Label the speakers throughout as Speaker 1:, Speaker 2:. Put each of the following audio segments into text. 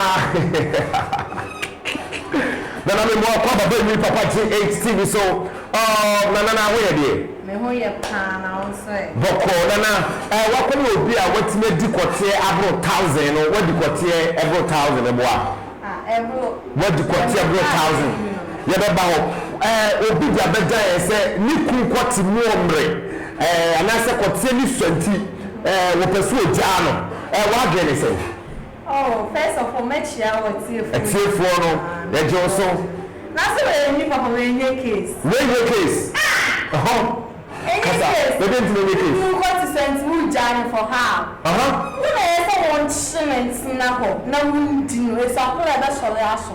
Speaker 1: Ahehehehahaha Nana me mmoa kɔ ababa nwi papa GHTV so ɔɔb Nana na ho yɛ deɛ? Me ho yɛ paa
Speaker 2: na wo nso ɛ? Bɔkɔɔ Nana
Speaker 1: ɛɛ w'akɔ ne obi a w'atumi adi kɔteɛ aboro thousand no w'adi kɔteɛ ɛboro thousand no boa Ah ɛboro
Speaker 2: W'adi kɔteɛ
Speaker 1: ɛboro thousand yɛ bɛ ba hɔ ɛɛ obi de abɛgya yɛn sɛ ne kun kɔ te mu ɔmere ɛɛ anaasɛ kɔteɛ ne sua nti ɛɛ wɔpɛ sɛ ɔgyaa no ɛɛ w'adwene ne sɛn? Oh first
Speaker 2: of all mɛkyia wɔ tiefoɔ nyinaa. Tiefoɔ no
Speaker 1: yɛgye wo so. Na sɛ wei
Speaker 2: ni papa wei nyɛ case. Wei nyɛ case ɛhɔ kasa ɛdɛ nti na ɛnyɛ case. Ɛnyɛ
Speaker 1: case wokɔ te sɛ nti
Speaker 2: wogyae no for how. Wo na ɛyɛ sɛ wonkye no ntena hɔ na wondi no ɛfiri akoro a ɛbɛsɔre aso.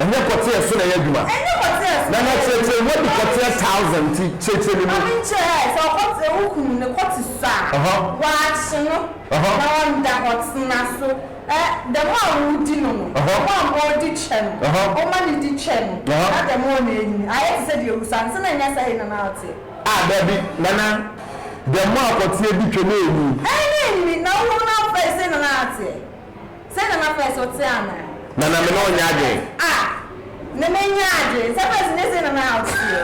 Speaker 2: Ɛnyɛ kɔteɛ
Speaker 1: so na ɛyɛ adwuma. Ɛnyɛ kɔteɛ so na ɛyɛ adwuma. Nana kyerɛkyerɛ mu adi kɔteɛ thousand nti kyerɛkyerɛ me mu. Maame nkyerɛ sɛ
Speaker 2: ɔkɔteɛ wo kunu ne kɔte so a uh huh. Waakye no uh huh. Na ɔnda hɔ tena so eh dɛm a wodi no no uh huh. Dɛm a modi kyɛ no uh huh. Ɔma ne di kyɛ no uh huh. Na dɛm a ɔna anyini ayɛ te sɛ deɛ awu saa nti na ɛnyɛ sɛ hei na na ɔteɛ. Ah dabi Nana
Speaker 1: dɛm a kɔteɛ di twɛ na anyini. Eh na anyini na wo hunu no
Speaker 2: afei sei na na ateɛ. Sɛ na mapɛ so te anaa? Na na me ne ɔnyɛ
Speaker 1: adwene. Ah! Na
Speaker 2: mennya adwene. Sɛ pɛs nyɛ sei na na ɔteɛ.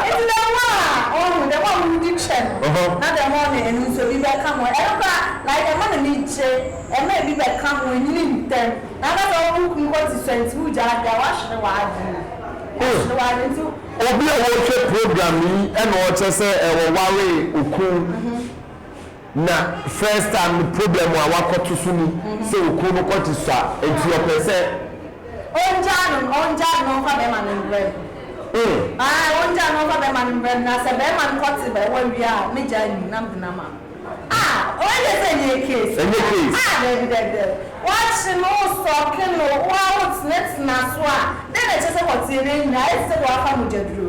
Speaker 2: Enti dɛm a, ɔho, dɛm a wodi kyɛ no, na dɛm a ɔne ɛno nso bi bɛka ho. Ɛno koraa, like ɛma n'anigye, ɛma ebi bɛka ho, ɛnyini ntɛm. Na na dɛm wo kunu kɔ te sua nti wogyaa ade a, woahwere w'adwene. Woahwere w'adwene nti wo. Obi a ɔrehwɛ
Speaker 1: program yi na ɔkyɛ sɛ ɔwaree okunu. Na first time no problem a wakɔto so ni sɛ okunu no kɔte sua nti ɔpɛ sɛ. Ɔngyaa no no ɔngyaa
Speaker 2: no na ɔmfa bɛɛma no mbrɛ no aah ɔngyaa no na ɔmfa bɛɛma no mbrɛ no na sɛ bɛɛma no kɔte bɛ hɔ awie a me gyaa nim na mede no ama no aah wei deɛ sɛ ɛnyɛ case ɛnyɛ case aah daabi daabi daabi wakye no wo sɔke no wo ara wo tenatena so a dɛn na ɛkyerɛ sɛ hɔteɛ no anyini ayɛ te sɛ deɛ wafa mogyaduro.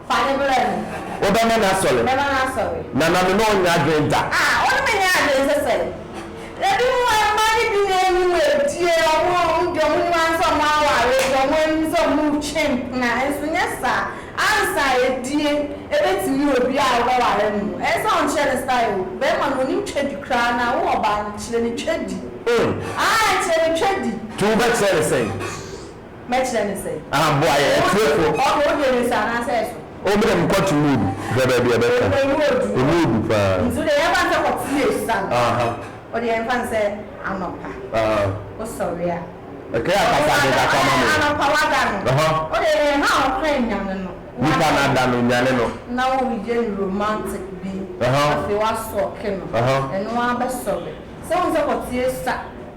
Speaker 2: Fa no brɛ me. Wobɛma no asɔre.
Speaker 1: Mɛma no asɔre. Na na me ne wo nyɛ adwene da. A, wo ne me nyɛ
Speaker 2: adwene sɛ sɛn? Na binom a mma no bi no anim adue, wɔn a wɔn deɛ wɔn nim ara sɛ wɔn aware deɛ wɔn anim sɛ wɔn retwe mpena, nso nyɛ saa, ansa adie ɛbɛtumi obi a wobɛware no no, ɛyɛ sɛ wɔnkyerɛ no style o, bɛrima no ɔnim twadi koraa na wo ɔbaa no kyerɛ no twadi, aah kyerɛ no twadi. Nti wobɛkyerɛ no sɛn? Mɛkyerɛ no sɛ. Ah boa yɛn atiefo.
Speaker 1: Okay wo deɛ mese anaasɛ
Speaker 2: ɛso. Oh me deɛ me kɔ to mu
Speaker 1: odu hwɛ baabi a ɛbɛka. Oh emu odu. Emu odu paa. Nti wo deɛ yɛn fa nsɛ kɔ to mu edu saa no. Aha.
Speaker 2: Wo deɛ yɛn fa nsɛ anɔpa. Aha. Wo sɔre a. Ɛkɛyɛ akasa
Speaker 1: de kakra ma me. Ɔde anɔpa wa da no. Aha.
Speaker 2: Wo deɛ yɛn ha a ɔkra nyane no. Nipa na da no
Speaker 1: nyane no. Na wo yɛ no
Speaker 2: romantic bi. Aha. Afei wa sɔke no. Aha. Ɛno ara bɛ sɔre. Sɛ wo nsɛ kɔ to yɛ sa.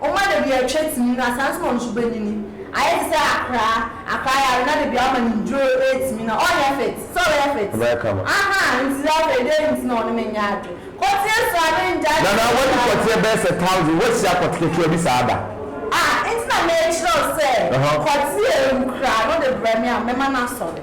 Speaker 2: Ɔma dabi a ɛtwa tini no asan so ma nsu bɛnyini ayɛ te sɛ akra akra yare na dabi a ɔma ne nnuro retumi na ɔnyɛ fit sɛ ɔbɛyɛ fit Ɔbɛyɛ kama. ahaa nti sɛ afei dɛn nti na ɔne me nyɛ adwe kɔteɛ so a me ngyae Nana kɔteɛ wadi saa kɔteɛ da.
Speaker 1: bɛyɛ sɛ thousand woahyia kɔte ketewa bi saa da. Ah nti na
Speaker 2: mekyerɛ wo sɛ Ɛhɔ. kɔteɛ wu kra no de brɛ me a mɛma no asɔre.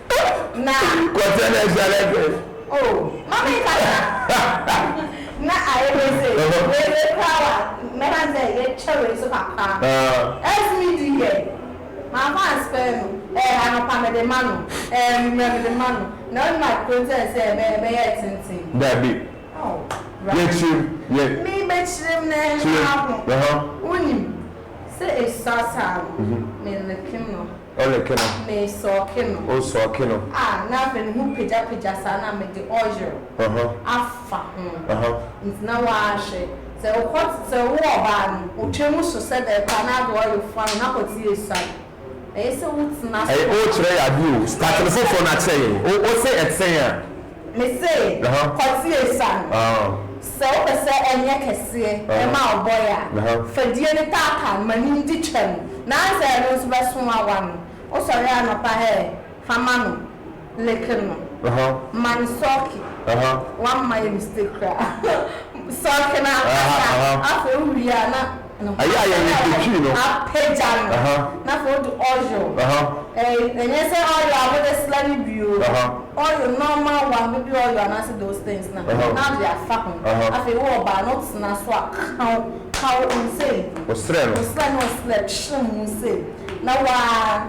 Speaker 2: Na. Kɔtɛ na ɛhyɛ ne
Speaker 1: fɛ. O, ma
Speaker 2: me nkasa. Na ayɛ dɛ sɛ wei wei koraa wa mɛka ne sɛ yɛkyɛ wei nso kakra. As me di yɛ, mamfa anspare no, eh, anɔpa mede ma no, eh, anwummerɛ mede ma no, na wonim akontɛn sɛ ɛbɛ ɛbɛyɛ tenten. Dabi.
Speaker 1: Oh,
Speaker 2: Yɛ
Speaker 1: kyerem, yɛ. Me bɛ kyerem
Speaker 2: na ɛha ho. Kyerem, ɛha. Wonim, sɛ ɛsua saa no, me lepem no. Ɔ ne ke no. Me
Speaker 1: sɔɔ ke no.
Speaker 2: O sɔɔ ke no. A,
Speaker 1: na afei ne ho
Speaker 2: pagyapagya saa na me de oil afa ho. Nti na w'ahwɛ. Sɛ okɔ sɛ wo ɔbaa no, otwa mu so sɛ dɛɛ koraa na ade oil fua no na kɔ te esuan. Ɛyɛ sɛ wo tena so. Ɛyɛ, o kyerɛ yɛ ade o.
Speaker 1: Start no foforɔ na kyerɛ yɛn. O, o se ɛtee a. Mese,
Speaker 2: kɔ te esa no. Sɛ wo pɛ sɛ ɛnyɛ kɛseɛ ɛma wo bɔe a, fa die no taataa no, ma no ndi twam, na ansa ɛno nso bɛso awa no, wo sɔre anɔpa ɛ, fa ma no, like no, ma no sɔɔke, wamma yɛ mistake koraa, sɔɔke no ankasa, afei wo wie a na. Ɛyɛ a yɛn werɛ
Speaker 1: fi twi no. Apagya no,
Speaker 2: na afei wode oil. Ɛnyɛ sɛ oil a wode sra no bi o, oil, normal one, baby oil anaasɛ those things no a, na wode afa ho. Afei wo ɔbaa no, wotena so a, ka wo, ka wo ho sei. Wo srɛ no. Wo srɛ
Speaker 1: no, wo srɛ, kyere mu
Speaker 2: sei. Na wo ara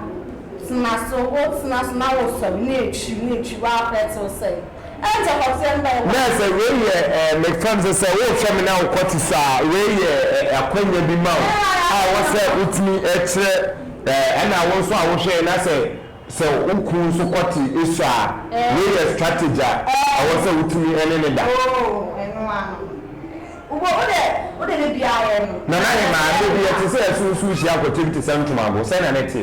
Speaker 2: tena so, wotena so na wosɔre, na ɛtwiri, na ɛtwiri, woapɛɛte wo sɛ. Nɛ sɛ wei yɛ
Speaker 1: eh me fam sɛ sɛ wo hwɛ me na wo kɔ te saa wei yɛ eh akwanya bi ma wo a wɔ sɛ wo tumi eh kyerɛ eh ɛna wo nso a wo hwɛ na sɛ sɛ wo kunu nso kɔ te saa wei yɛ strategy a ɛwɔ sɛ wo tumi ɛne ne da.
Speaker 2: Nana Hemaa, da bi yɛ
Speaker 1: te sɛ ɛso nsuo hyia kɔtem te sɛ ntomago, sɛn na ne te?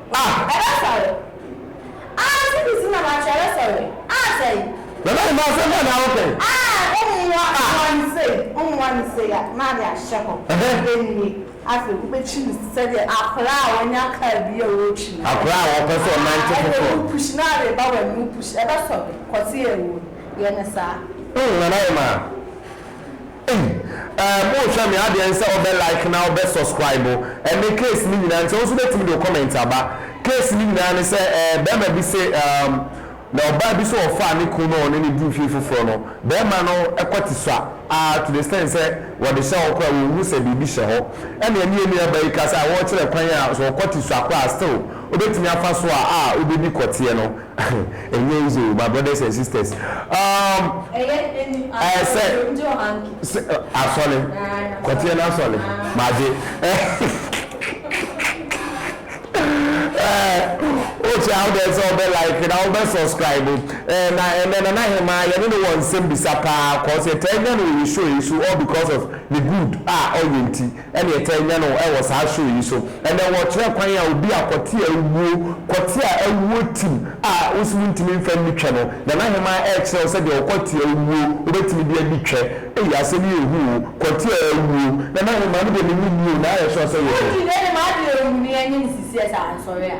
Speaker 2: Ah! Ɛbɛ sɔre. Ah! Sidi si na ma kyɛrɛ sɔre. Ah! Sɛi. Nana Emma asɛm
Speaker 1: bɛn na wo pɛ? Ah! Wo mmoa mmoa no sei,
Speaker 2: wo mmoa no sei a na ade ahyɛ hɔ. Ɛnni. Afei wo bɛkyi no te sɛ deɛ akwadaa a wanya car bi a ɔretwi no. Akwadaa a ɔpɛ sɛ ɔnante
Speaker 1: foforɔ. Ah! Ɛnna wo push no ara reba w'anim, wo
Speaker 2: push. Ɛbɛ sɔre. Kɔte awuo. Yɛ no saa. Oh! Nana Emma.
Speaker 1: Ei ɛɛ mo hwɛ me adeɛ nsɛ wo bɛ like na wo bɛ suscribe ɛne case no nyinaa nsɛ wo nso bɛtumi de wo comment aba case no nyinaa ne sɛ ɛɛ bɛɛma bi se ɛɛm na ɔbaa bi se ɔfaa ne kun na ɔne no dii fie foforɔ no bɛɛma no kɔte sua aa to the extent sɛ wɔde hyɛ hɔ koraa wɔnhu sɛ biribi hyɛ hɔ ɛnea ne ɛnua baa yi ka sɛ a wɔɔkyerɛ kwan a sɛ ɔkɔte sua koraa a still wobɛtumi afa so a a wobɛdi kɔteɛ no Ɛnyɛ easy o, my brothers and sisters. Um, Ɛyɛ ɛni ɛɛ sɛ asɔre yom jɔ hanki. sɛ ɛ, asɔre Ɛɛ, kɔteɛ no asɔre Ah. magye ɛɛ wokyɛ awo dɛ sɛ ɔbɛ like na ɔbɛ subscribe ɛɛ na ɛnɛ na n'ahema yɛne no wɔ nsɛm bisa paa kɔɔ sɛ taa nya no wɔ yɛ show yi so all because of ne good a ɔyɛ nti. ɛna yɛtaa nya no wɔ saa show yi so. Ɛnɛ wɔkyerɛ kwan a obi a kɔte awuo, kɔte a awuo tim a wo se wontumi mfa nni twɛ no. Nana Hemaa ɛrekyerɛ wo sɛdeɛ ɔkɔte awuo wobɛtumi de adi twɛ. Ei asɛm yi ɛhu o, kɔte a awuo. Nana Hemaa, me deɛ menim ni o, na ayɛ sure sɛ wonim. Wonti nɛ ne m'adwene ɔhu ne anim sisiɛ saa
Speaker 2: nsɔre a.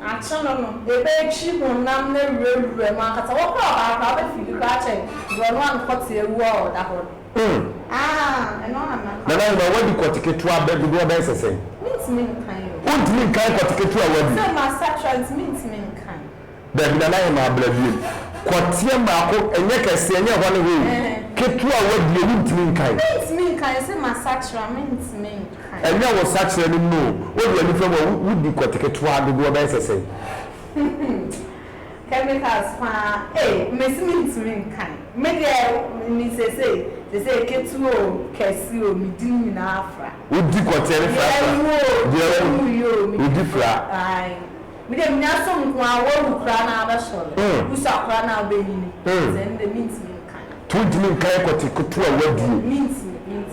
Speaker 2: Akyɛ no no, ebetwi honam no awurawura mu ankasa. Wɔn kora ɔbaa koraa, wobetwi bi koraa kyɛn borɔno ano kɔte awu a ɔda hɔ no. Nana Nyuma, woadi kɔte
Speaker 1: ketewa bɛ dodoɔ bɛyɛ sɛ sɛn? Mentumi
Speaker 2: nkan o. Wontumi nkan kɔte
Speaker 1: ketewa a woadi? Sɛ masakyera nti
Speaker 2: mentumi nkan. Dabi nana yɛ
Speaker 1: maa bra biom. Kɔteɛ maako ɛnyɛ kɛseɛ ɛnyɛ ɛhɔ ne hɔ o ketewa a w'adie wontumi nkan. Mentumi
Speaker 2: nkan ɛsɛ masakyera mentumi
Speaker 1: nkan. Ɛnyɛ wo sakyera no mu o wode ani fa mu a wodi kɔte ketewa dodoɔ bɛyɛ sɛ sɛn. Chemicals
Speaker 2: paa ei mesi mentumi nkan me deɛ me sesei sesei ketewa o kɛse o medi ne nyinaa fra. Wodi kɔteɛ no
Speaker 1: frafra deɛ ɛwɔ mu yi o medi fra.
Speaker 2: Me deɛ menya asɛm nko ara, wawu koraa na abɛsɔre, wusua koraa na abɛnyini, sɛ ɛnde mentumi nka no. To ntumi nka yɛ kɔte
Speaker 1: koto a wadi o,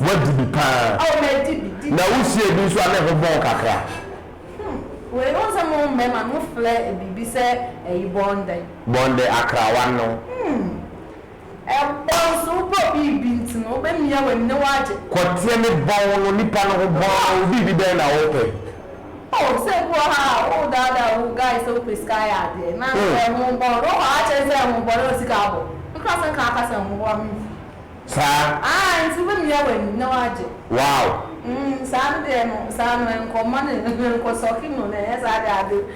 Speaker 2: wadi bi
Speaker 1: paa, na
Speaker 2: wusiee bi nso a
Speaker 1: ne ho bɔn kakra. Hmm,
Speaker 2: wei wohu sɛ mo mmarima no mofrɛ biribi sɛ ayi bɔndɛ. Bɔndɛ, akrawa no.
Speaker 1: Hmm. Mpo
Speaker 2: so wopɛ obi bi nti no, wobɛmia w'ani na woagye. Kɔteɛ me bɔn
Speaker 1: no nipa no ho bɔn no obi bi bɛn na wopɛ. Oh sɛ
Speaker 2: bi wɔ ha a wo daadaa wo guy sɛ wopɛ sika ayɛ adeɛ na sɛ ɛho bɔn no wokɔ akyɛn sɛ ɛho bɔn na sika abɔ me kora sɛ nka aka sɛ ɛho bɔn a memfi. Saa.
Speaker 1: Aah nti wobɛmia
Speaker 2: w'ani na woagye. Wow. Umm
Speaker 1: saa no deɛ
Speaker 2: no saa no ɛnkɔ mma no ɛnkɔ sɔke no na ɛnyɛ saa deɛ ade.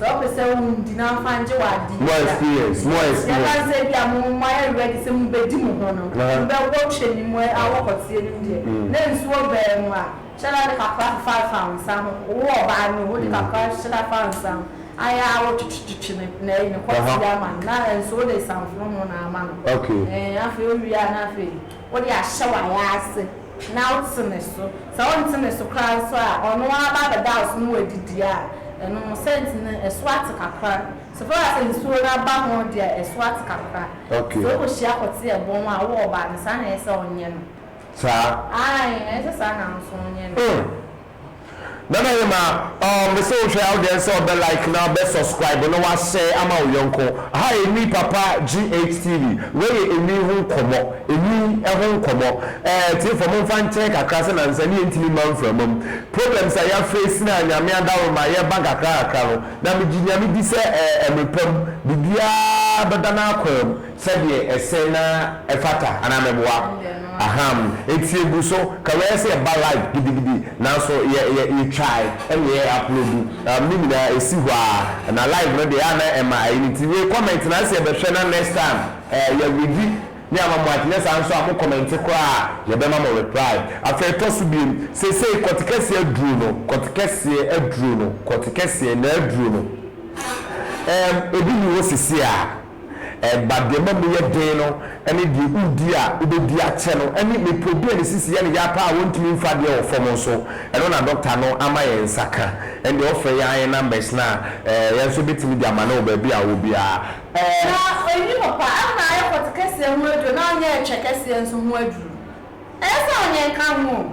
Speaker 2: Sɛ wopɛ sɛ wo ndi na wamfa angye wo adeɛ bi a. More experience,
Speaker 1: more experience. Yɛba no sɛ ebia
Speaker 2: mo mo ayɛ ready sɛ mobɛdi mo ho no, mobɛwɔ twɛ nim a awɔ kɔteɛ nim deɛ, na nsuo baa mu a, hyɛ da de kakra fefa fa wo nsa ho. Wo ɔbaa no, wode kakra hyɛ da fa wo nsa ho. Ayɛ ara wotwetwetwe ne ne ayi ne kɔteɛ ama no, na nso wode samfono ho na ama no. Ɛɛ, afei wowie
Speaker 1: a na
Speaker 2: afei. Wode ahyɛ w'ayaase na wote ne so. Sɛ wonte ne so koraa nso a, ɔno ara ba abɛda wo so na wadidi a, ɛno no, sɛnti no, ɛso ate kakra. So fɛre a sɛ nsuo no aba ho deɛ ɛso ate kakra? Sɛ wokɔhyia
Speaker 1: kɔte
Speaker 2: ɛbɔn a, wo ɔbaa no, saa na ɛsɛ sɛ wonyɛ no. Saa?
Speaker 1: Aane, ɛsɛ
Speaker 2: saa na wo nso wonyɛ no.
Speaker 1: Nana Hema oh mese wo hwɛ awodɛn sɛ ɔbɛ like na ɔbɛ suscribe na wa share ama wo yɔnko ha enwi papa GHTV wei yɛ enwi ho nkɔmɔ enwi ɛho nkɔmɔ ɛɛ tiefɔ mo nfa nkyɛn kakra sɛ nansa ni yɛ ntimi mma nframa mu problems a ya face na nyame adaworo ma yɛ ba kakra kakra no na me gye nyame di sɛ ɛɛ ɛmere pa mu biribiaa bɛda na akwaa mu sɛdeɛ ɛsɛ na ɛfata anaa mɛboa ahaa mu nti egu so kawɛɛ sɛ ɛba live gidigidi nanso yɛ yɛ yɛtwae ɛna yɛ aplodu ɛɛm ne nyinaa esi hɔ aa na live no deɛ ɛyɛ a na ɛma ɛyi no nti wei comment na nsɛ yɛbɛhwɛ na next time ɛɛ yɛ redi ne ama mo anyɛ saa nso a mo comment koraa a yɛbɛma mo reply afei ɛtɔ so biem seisei kɔtekɛseɛ aduro no kɔtekɛseɛ aduro no kɔtekɛseɛ na aduro no ɛɛm ebi ni hɔ seisei a. Ɛba deɛ ɛma mu yɛ den no ne deɛ wodi a wobɛdi akyɛ no ne mmepɔ bi a ne sisi yɛ no ya paa a wɔntumi mfa adeɛ wɔ fam nso. Ɛno na dɔkta no ama yɛn nsa ka. Ɛnde ɔfrɛ yɛn a yɛn numbers no a, ɛɛ, yɛn nso bɛtumi de ama no wɔ baabi a ɔwɔ biara. Ɛɛ. Na ɔnni
Speaker 2: papa, ɛno na ayɛ pɔte kɛseɛ ho aduro na ɔnyɛ ɛtwɛ kɛseɛ nso ho aduro. Ɛyɛ sɛ ɔnyɛ nka ho o.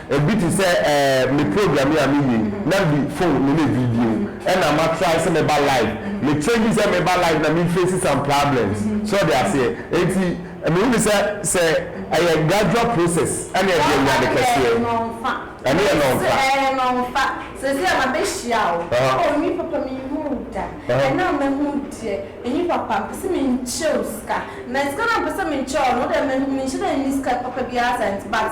Speaker 1: Ebi te sɛ eh, me program yi a me yie na mede phone me ne video ɛna ma try sɛ meba live me change sɛ meba live na me face some problems so ɔde aseɛ enti me hunu sɛ sɛ ɛyɛ gradual process ɛne ɛde anya ade kɛseɛ ɛne yɛ nɔnfa ɛyɛ nɔnfa sɛsɛ a ma bɛ
Speaker 2: hyia o oh me papa me hu wo da ɛna a ma hu deɛ me papa mpɛ sɛ me nkyɛ wo sika na sika na mpɛ sɛ me nkyɛ wo no wodɛ ma hu me nhyɛ dɛ nni sika papa biara saa nti but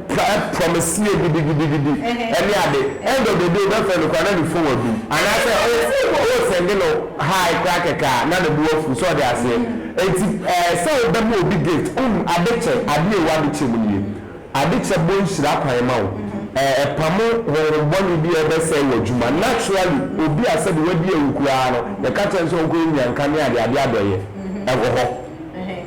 Speaker 1: Saa prɔmeseɛ gidigidigidi ne ade end of the day wobɛfrɛ no koraa na ne phone adum anaasɛ wo send no hi koraa kɛkɛ a na ne bo afu so ɔde aseɛ enti ɛɛ sɛ wobɛma obi gift umm ade kyɛ ade ei w'ade kyɛ mu nie ade kyɛ bɔ nhyira kwan ma wo ɛɛ ɛpamo honhom bɔne bi a ɛbɛsɛe w'adwuma naturally obi a sɛdeɛ w'adi awu koraa no yɛka kyerɛ no sɛ ɔnkɔ yɛ nyanka ne adeade adɔeɛ ɛwɔ hɔ.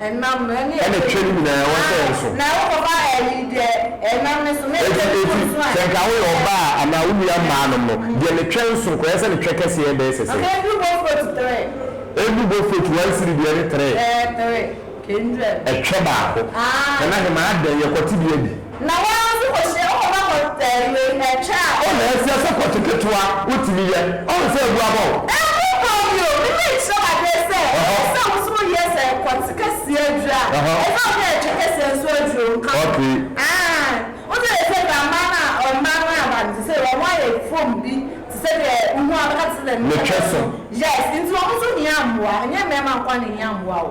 Speaker 2: Ɛnam no, ɛne ɛtwa mu. Ɛna ɛtwa no nyinaa, ɛwɔ
Speaker 1: sɛ ɛnso. Na wokɔfa ayi deɛ
Speaker 2: ɛnam no so, na ɛtwa no mu nso a. Enti, sɛ nka
Speaker 1: woyɛ ɔbaa anaa wo nua mmaa nom no, deɛ ne twɛ nso nko, ɛyɛ sɛ ne twɛ kɛseɛ bɛyɛ sɛ sɛn? Ɛndu bɔ foot
Speaker 2: three. Ɛndu bɔ
Speaker 1: foot one siri deɛ ne three. Ɛɛ, three, kndwɛm.
Speaker 2: Ɛtwɛ baako.
Speaker 1: Aa. Ɛna hemaa dɛn, yɛkɔte bi adi. Na wɔn ara nso
Speaker 2: kɔhyia wo papa kɔ sɛe wei na atwa a. O na ɛsɛ sɛ kɔkye
Speaker 1: ketewa wotumi yɛ ɔn sɛ abu abɔ wo. Nyankopɔn me o me
Speaker 2: mɛ nkyerɛ wo adeɛ sɛ ɛsɛ sɛ wo nso wo yɛ sɛ kɔkye kɛseɛ aduru a ɛsɛ wo ne atwa kɛseɛ nso aduru o nka ho aah wo deɛ sɛ bra mmaa no a mmaa no aba no sesei wɔn ayɛ foam bi te sɛ deɛ wo hu a bɛka te sɛ deɛ ne twɛ so yes nti wɔn nso hia mmoa ɛnyɛ mmarima nkoa na ɛhia mmoa o.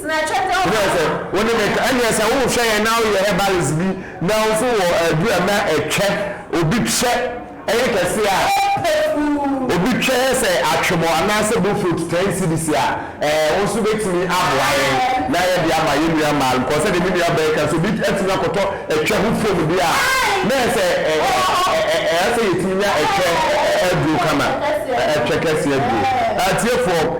Speaker 2: Wodeɛ sɛ wo ne me ka
Speaker 1: ɛnneɛ sɛ wohwɛ yɛn na woyɛ herbalist bi na wo nso wɔ aduru a na ɛtwɛ obi twɛ ɛyɛ kɛseɛ a obi twɛ yɛ sɛ atwemɔ anaasɛ bofrot ten cedis a ɛɛ wo nso bɛtumi aboa yɛn na yɛde ama yɛn nua mmaa no kɔɔ sɛdeɛ me nua bɛɛ ka sɛ obi atumi akɔtɔ ɛtwɛ ho fom deɛ a na yɛ sɛ ɛɛ ɛɛ sɛ yɛtumi nya ɛtwɛ aduro kama ɛtwɛ kɛseɛ aduro atiefoɔ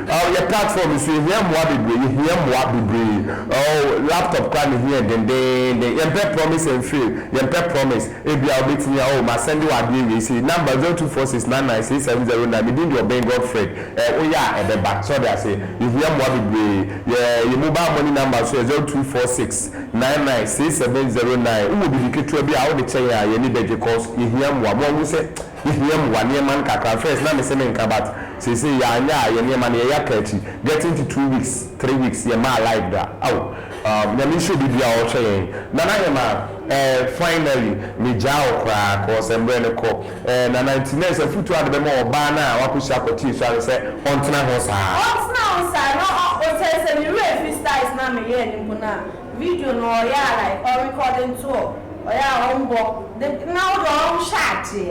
Speaker 1: Aww yɛ platform yi so yɛ hia mmoa bebree yɛ hia mmoa bebree aww laptop koraa na ehia yɛ dendeenden yɛn pɛ promise and fail yɛn pɛ promise ebia wo betumi aww ma sɛnde wo adeɛ wei sei number zero two four six nine nine six seven zero nine me din de ɔbɛn Godfred ɛɛ wo yɛ a ɛbɛ ba so ɔde aseɛ yɛ hia mmoa bebree yɛ yɛ mobile money number nso yɛ zero two four six nine nine six seven zero nine wo wɔ biribi ketewa bi a wo de kyɛ yɛn a yɛn ani bɛ gye cause yɛ hia mmoa mo ahu sɛ Yehia mmoa, nneɛma nkakra. First na mese menka but seesei yɛanyɛ a yɛn nneɛma no yɛyɛ aka akyi. Getting to two weeks, three weeks yɛmmaa live da. Aw um Nyame nhyira obi biara a ɔhwɛ yɛn. Nana Hemaa eh finally megyaa wo koraa cause mmerɛ no kɔ eh Nana nti nurse afutuo a ɔde bɛma ɔbaa no a wakɔhyia akɔte nsua no sɛ ɔntena ho saa. Ɔntena ho saa na ɔ ɔsɛ sɛ me werɛ firi styles no
Speaker 2: a meyɛɛ no mpo no a video no ɔyɛ a like ɔ recording to ɔ.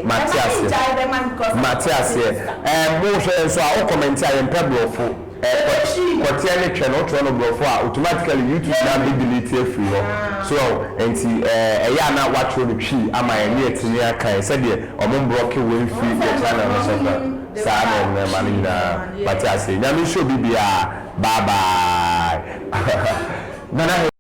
Speaker 2: Mate aseɛ mate aseɛ ɛɛ mo hwɛ yɛn so a wo comment a yɛmpɛ brɔfo ɛɛ kɔteɛ ne twɛ no wotwerɛ no brɔfo a automatically YouTube na bɛ delete afiri hɔ so ɔho ɛnti ɛɛ ɛyɛ a na watwerɛ no twii ama yɛn ne yɛtumi akan sɛdeɛ ɔmo mbrɔke wei mfiri yɛn channel no so kɔ saa ne nnoɔma no nyinaa mate aseɛ Nyame nhyira obi biara bye bye Nana Hɛn.